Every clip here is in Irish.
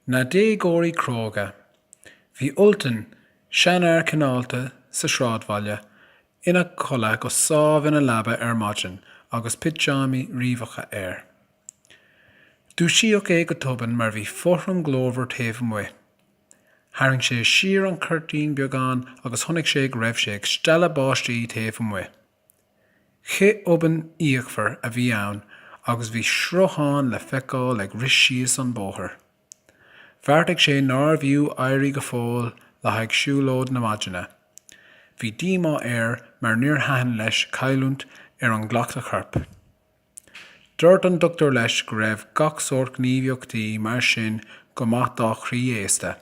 Na déagóirí cróga. Bhí Ultan, seanfhear cineálta sa sráidbhaile, ina chodladh go sámh ina leaba ar maidin agus pitseámaí riabhacha air. Dúisíodh é go tobann mar bhí fothram glórmhar taobh amuigh. Tharraing sé siar an cuirtín beagán agus chonaic sé go raibh sé ag stealladh báistí taobh amuigh. Cith tobann fhíochmhar a bhí ann agus bhí sruthán le feiceáil ag rith síos an bóthar. Bheartaigh sé nárbh fhiú éirí go fóill le haghaidh siúlóid na maidine. Bhí díomá air mar níor thaitin leis cailliúint ar an gcleachtadh coirp. Dúirt an doctúir leis go raibh gach sórt gníomhaíochtaí mar sin go maith dá chroí aosta.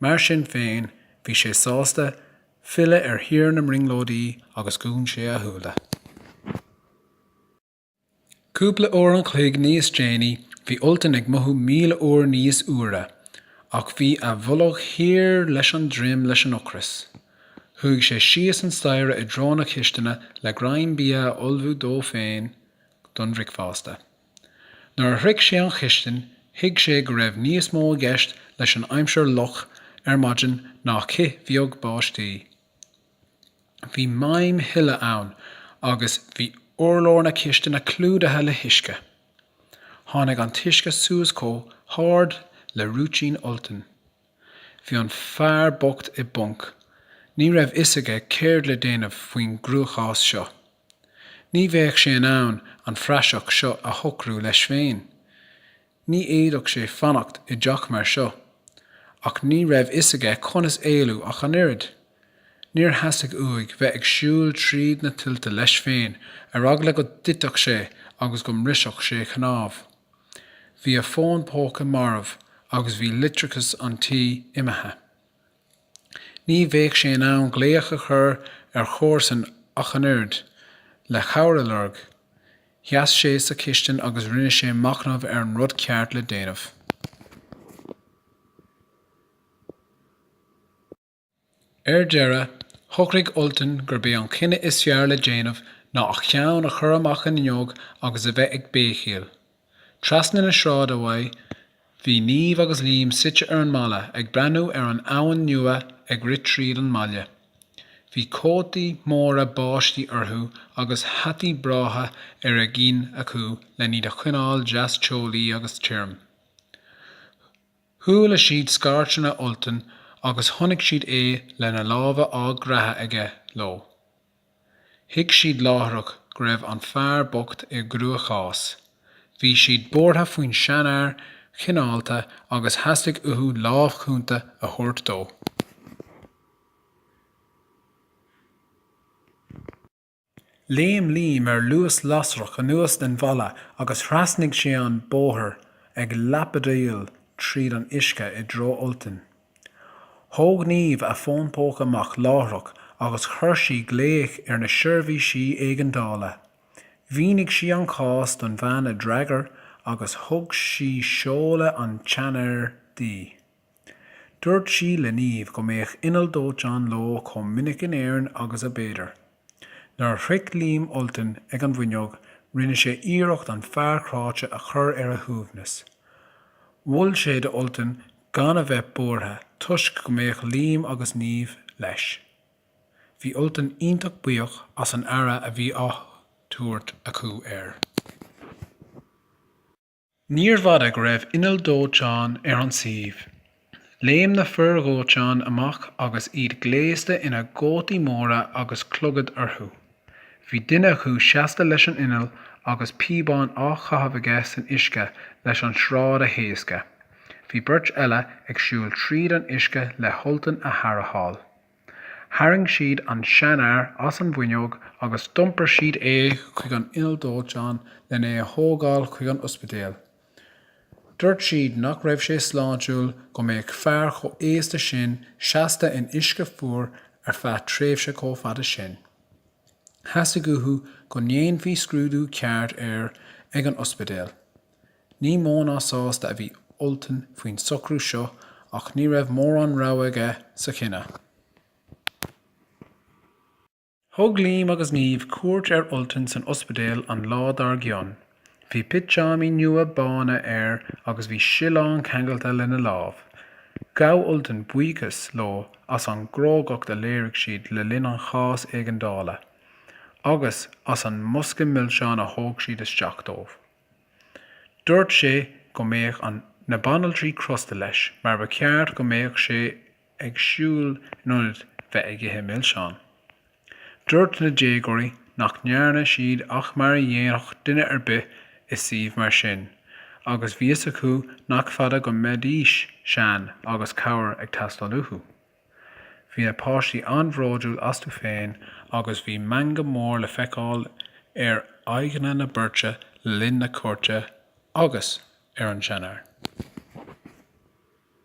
Mar sin féin, bhí sé sásta filleadh ar thír na mbrionglóidí agus dhún sé a shúile. Cúpla uair an chloig níos déanaí, bhí Ultan ag mothú míle uair níos úire, ach bhí a bholg thiar leis an droim leis an ocras. Chuaigh sé síos an staighre i dtreo na cisteanadh le greim bia a ullmhú dó féin don bhricfeasta. Nuair a shroich sé an chistin thuig sé go raibh níos mó i gceist leis an aimsir fhliuch ar maidin ná cith bheag báistí. Bhí maidhm thuile ann agus bhí urlár na cisteanadh clúdaithe le huisce. Tháinig an t-uisce suas chomh hard le rúitín Ultain. Bhí an fear bocht i bponc. Ní raibh fhios aige céard le déanamh faoin gcruachás seo. Ní bheadh sé in ann an phraiseach seo a shocrú leis féin. Ní fhéadfadh sé fanacht i dteach mar seo. Ach ní raibh fhios aige conas éalú ach an oiread. Níor theastaigh uaidh bheith ag siúl tríd na tuilte leis féin ar eagla go dtitfeadh sé agus go mbrisfeadh sé cnámh. Bhí a fhón póca marbh agus bhí leictreachas an tí imithe. Ní bheadh sé in ann glaoch a chur ar chomharsa ach an oiread, le cabhair a lorg. Sheas sé sa chistin agus rinne sé machnamh ar an rud ceart le déanamh. Ar deireadh, shocraigh Ultan gurb é an cinneadh is fearr le déanamh ná a cheann a chur amach an fhuinneog agus a bheith ag béicíl. Trasna na sráide uaidh, bhí Niamh agus Liam suite ar an mballa ag breathnú ar an abhainn nua ag rith tríd an mbaile. Bhí cótaí móra báistí orthu agus hataí breátha ar a gcinn acu len iad a choinneáil deas teolaí agus tirim. Chuala siad scairteanna Ultan agus chonaic siad é lena lámha á gcreathadh aige leo. Thuig siad láithreach go raibh an fear bocht i gcruachás. Bhí siad buartha faoin seanfhear chineálta agus theastaigh uathu lámh chúnta a thabhairt dó. Léim Liam ar luas lasrach anuas den bhalla agus thrasnaigh sé an bóthar ag lapadaíl tríd an uisce i dtreo Ultain. Thóg Niamh a fón póca amach láithreach agus chuir sí glaoch ar na seirbhísí éigeandála. Mhínigh sí an cás don bhean a d'fhreagair agus thug sí seoladh an tseanfhir di. Dúirt sí le Niamh go mbeadh inneall dóiteáin leo chomh minic in Éirinn agus a b'fhéidir. Nuair a shroich Liam Ultan ag an bhfuinneog, rinne sé iarracht an fear cráite a chur ar a shuaimhneas. Mhol sé do Ultan gan a bheith buartha toisc go mbeadh Liam agus Niamh leis. Bhí Ultan iontach buíoch as an aire a bhí á tabhairt acu air. Níorbh fhada go raibh inneall dóiteáin ar an suíomh. Léim na fir dhóiteáin amach agus iad gléasta ina gcótaí móra agus clogad orthu. Bhí duine acu seasta leis an inneall agus píobán á chaitheamh aige san uisce leis an sráid a thaoscadh. Bhí beirt eile ag siúl tríd an uisce le hUltan a tharrtháil. Tharraing siad an seanfhear as an bhfuinneog agus d'iompair siad é chuig an inneall dóiteáin lena a thógáil chuig an ospidéal. Dúirt siad nach raibh sé sláintiúil go mbeadh fear chomh aosta sin seasta in uisce fuar ar feadh tréimhse chomh fada sin. Theastaigh uathu go ndéanfaí scrúdú ceart air ag an ospidéal. Ní mó ná sásta a bhí Ultan faoin socrú seo ach ní raibh mórán rogha aige sa chinneadh. Thug Liam agus Niamh cuairt ar Ultan san ospidéal an lá dár gcionn. Bhí pitseámaí nua bána air agus bhí sileán ceangailte lena lámh. Ghabh Ultan buíochas leo as an gcrógacht a léirigh siad le linn an chás éigeandála agus as an mbosca milseán a thóg siad isteach dó. Dúirt sé go mbeadh na banaltraí crosta leis mar ba cheart go mbeadh sé ag siúl in ionad bheith ag ithe milseán. Dúirt na déagóirí nach ndearna siad ach mar a dhéanfadh duine ar bith i suíomh mar sin agus bhí a fhios acu nach fada go mbeidís sean agus cabhair ag teastáil uathu. Bhí na páistí an-bhróidiúil astu féin agus bhí meangadh mór le feiceáil ar aghaidheanna na beirte linn na cuairte agus ar an seanóir.